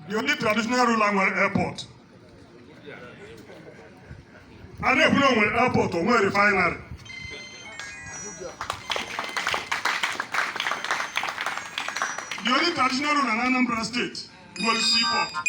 The only traditional ruler nwere airport. A na-ekwu na o nwere airport, o nwere refinery. The only traditional ruler na Anambra State nwere seaport.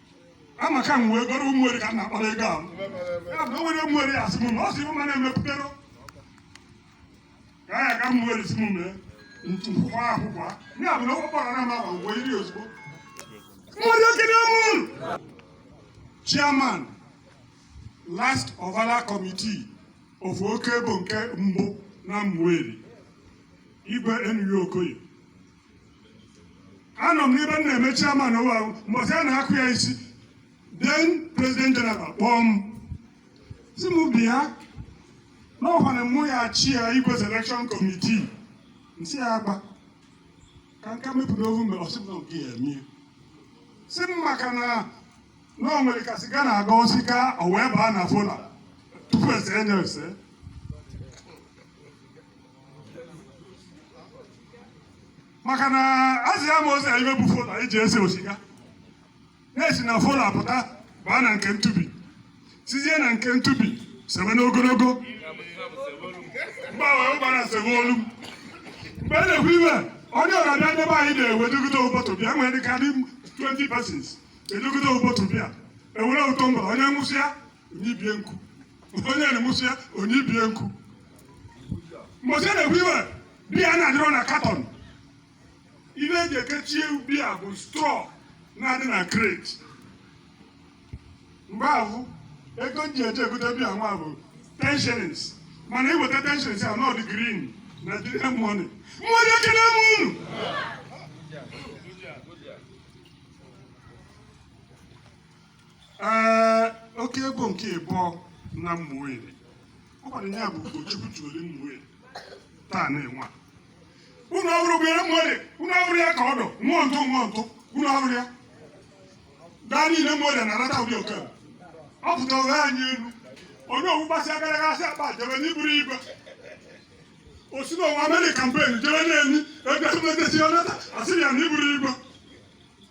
amaka m wee goro ụmụeri ka m na-akpara ego ahụ ya bụ onwere ụmụeri asị m na ọ sị ụma na-emepụtara ka ya ga ụmụeri si m mee ntukwukwa akwụkwọ ya bụ na ụgbọ kpọrọ na maba wee iri ozugbo ụmụeri okenye ọ mụ bụ chairman last ovala committee of Okebo nke mbụ na ụmụeri Igwe N.U. Okoye anọ m n'ebe m na-eme chairman ụwa ahụ mbọsị a na-akụ ya isi then president general kpọọ m si m bịa na ọ bụ mụ ya-achịa igwe selection committee m sị ya agba ka nka mepụta ohu mgbe ọ sị m na nke ya emie si m maka na na o nwere ka siga na-aga osika o wee baa na fola tupu ese enye ese maka na asị ya ma ozi ibe bụ fola eji ese osiga na-esi na fola pụta baa na nke ntubi sizie na nke ntubi sebe n'ogologo mgbanwe ụgbara sebe olu m mgbe a na-ekwu iwe onye ọra biya ndebe anyị na-ewe dogide bọtụl biya nwere dịka dị 20 persons edogide bọtụl biya e were tọmbla onye ṅụsịa o nye ibe nku onye na-aṅụsịa o nye ibe nku mgbe ochie a na-ekwu iwe biya na-adịrọ na katọn ihe eji ekechie biya bụ strọ na-adị na kreti mgbe ahụ ego ji eje egote biya nwa bụ ten shillings mana i weta ten shillings a note dụ green na jide mọni mmụọ ekele m unu ee Okebo nke ịbụọ na ụmụeri ọ gwara ya bụ Ugochukwu tuole ụmụeri taa na-enwe a. unu ọhụrụ gụnyere ụmụeri unu ọhụrụ ya ka ọ dụ mmụọ ntụ mmụọ ntụ unu ọhụrụ ya gaa niile ụmụeri na-arata ụdị oke a. ọ pụta ụgha anyị elu onye ọ wụ gbasịa gara aga asị akpa jebe n'iburu igwe o si n'ụwa amerịka mpen jebe na-enyi ebe mmetesi ọ nata asị ya na iburu igwe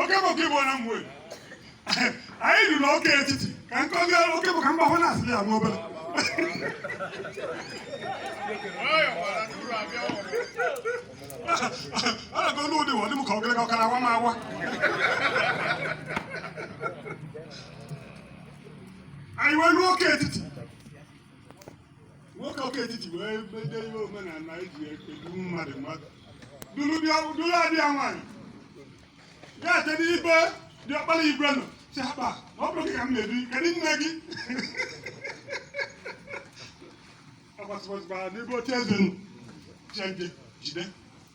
Okebo Okebo na mgbe anyị ruru n'oke etiti ka nkọzi Okebo ka mba hụ na-asị ya nwa obere a na-ego n'ụdị ụwa dị m ka ogologo ọkara awa m awa anyị wee ruo oke etiti nwoke ọka etiti wee mede ihe omenala eji edu mmadụ mmadụ duru bịa duru adị ya nwaanyị ya ete n'ibe dị ọkpara igwe nọ si akpa ma ọ bụrụ gị ka m na-ebi kedu nne gị agbasịgbasịgbara n'ebe oche eze nọ chenje jide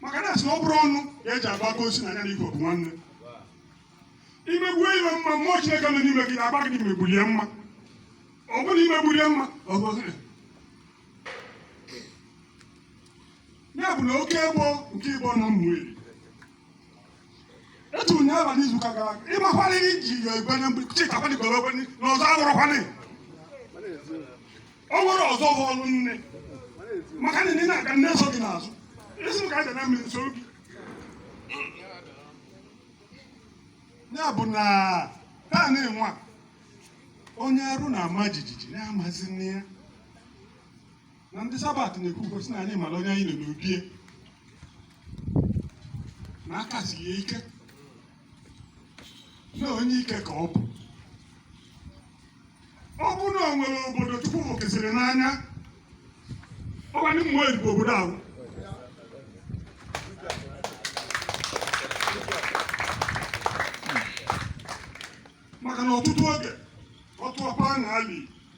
maka na asị na ọ bụrụ ọnụ ka eji agba aka osi na ya na igwe bụ nwanne imegbuo iwe mma mmụọ chineke nọ n'ime gị na-agwa gị na imegbulie mma ọ bụrụ na imegbulie mma ọ bụ ọzọ. ya bụ na oke egbo nke igbo nọ mmụọ eri etu ụnyaahụ n'izu ụka gara aga ị makwana ihe iji yọ igwe na mgbidi chịtakwana igwe ekwe na ọzọ agwụrụkwana o nwere ọzọ bụ ọrụ nne maka na ị na-aga nne so gị n'azụ isi m ka aja na mmiri nso gị ya bụ na taa na-enwe a, onye arụ na-ama jijiji na-amazi nne ya na ndị sabat na-ekwu gosi na anyị mara onye anyị nọ n'obie na aka si ya ike na onye ike ka ọ bụ ọ bụ na o nwere obodo chukwu fụkesịrị n'anya ọ bụ ndị mmụọ odibo obodo ahụ maka na ọtụtụ oge ọ tụọ aka na ali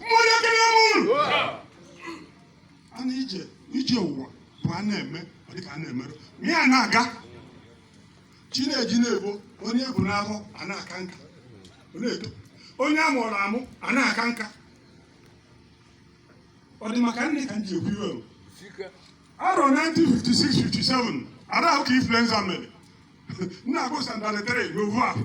mmụọ ya kere m unu a na ije ije ụwa bụ a na-eme ọ dịka a na-eme a na-aga chi na-eji na-abọ onye bụ n'ahụ a na-aka nka ọ na-eto onye a mụrụ amụ a na-aka nka ọ dị maka nne ka m ji ekwu ive o. arọ 1956-57 arọ ahụ ka influenza mere nna agụ sandalị tere n'ovu ahụ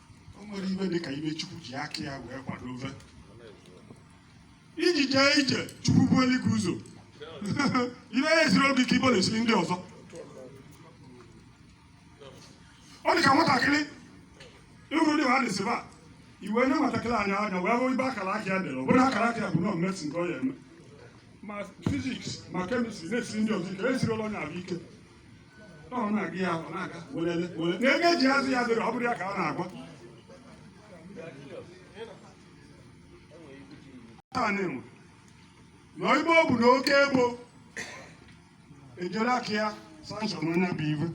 o nwere ive dị ka ive chukwu ji aka ya wee kwado ofe iji jee ije chukwu bulu gị ụzọ ive ya esiri gị ike ive ọ na-esiri ndị ọzọ ọ dị ka nwatakịrị ị hụrụ ndị mmadụ si ba iwe nye nwatakịrị anya anya wee hụ ive akara aka ya dere ọ bụrụ akara aka ya bụ na medicine ka ọ ya eme ma physics ma chemistry na-esiri ndị ọzọ ike esirila onye ahụ ike ji azụ ya dịrị ọ bụrụ ya ka ọ na-agwa na ibe ọ bụ na oke egbo ejere aka ya sanshọn onye bụ iwe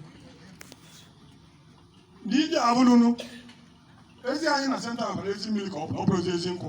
ndị ije abụlụnụ ezi anyị na senta abara ezi mmiri ka ọ bụrụ ezi nkwụ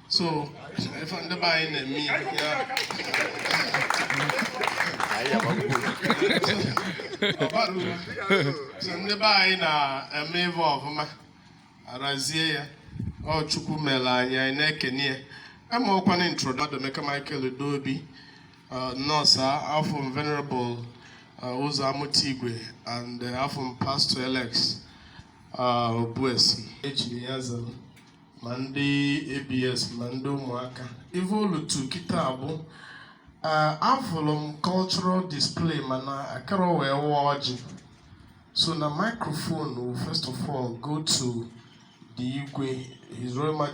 so ife ndị be anyị na-eme ya so ndị be anyị na-eme ife ọfụma arazie ya ọ chukwu mere anyị anyị na-ekene ya e meokwana introduction Emeka Michael Udeobi uh, nọọsụ afụ m venerable uh, Ụzọ Amụtaigwe and uh, afụ m pastor Alex Obuesi ejiri ya zara ma ndị ABS ma ndị ụmụaka ife o lulu kịta bụ afụrụ m cultural display mana akara wee waa ọjị so na microphone will first of all go to the igwe his royal majesty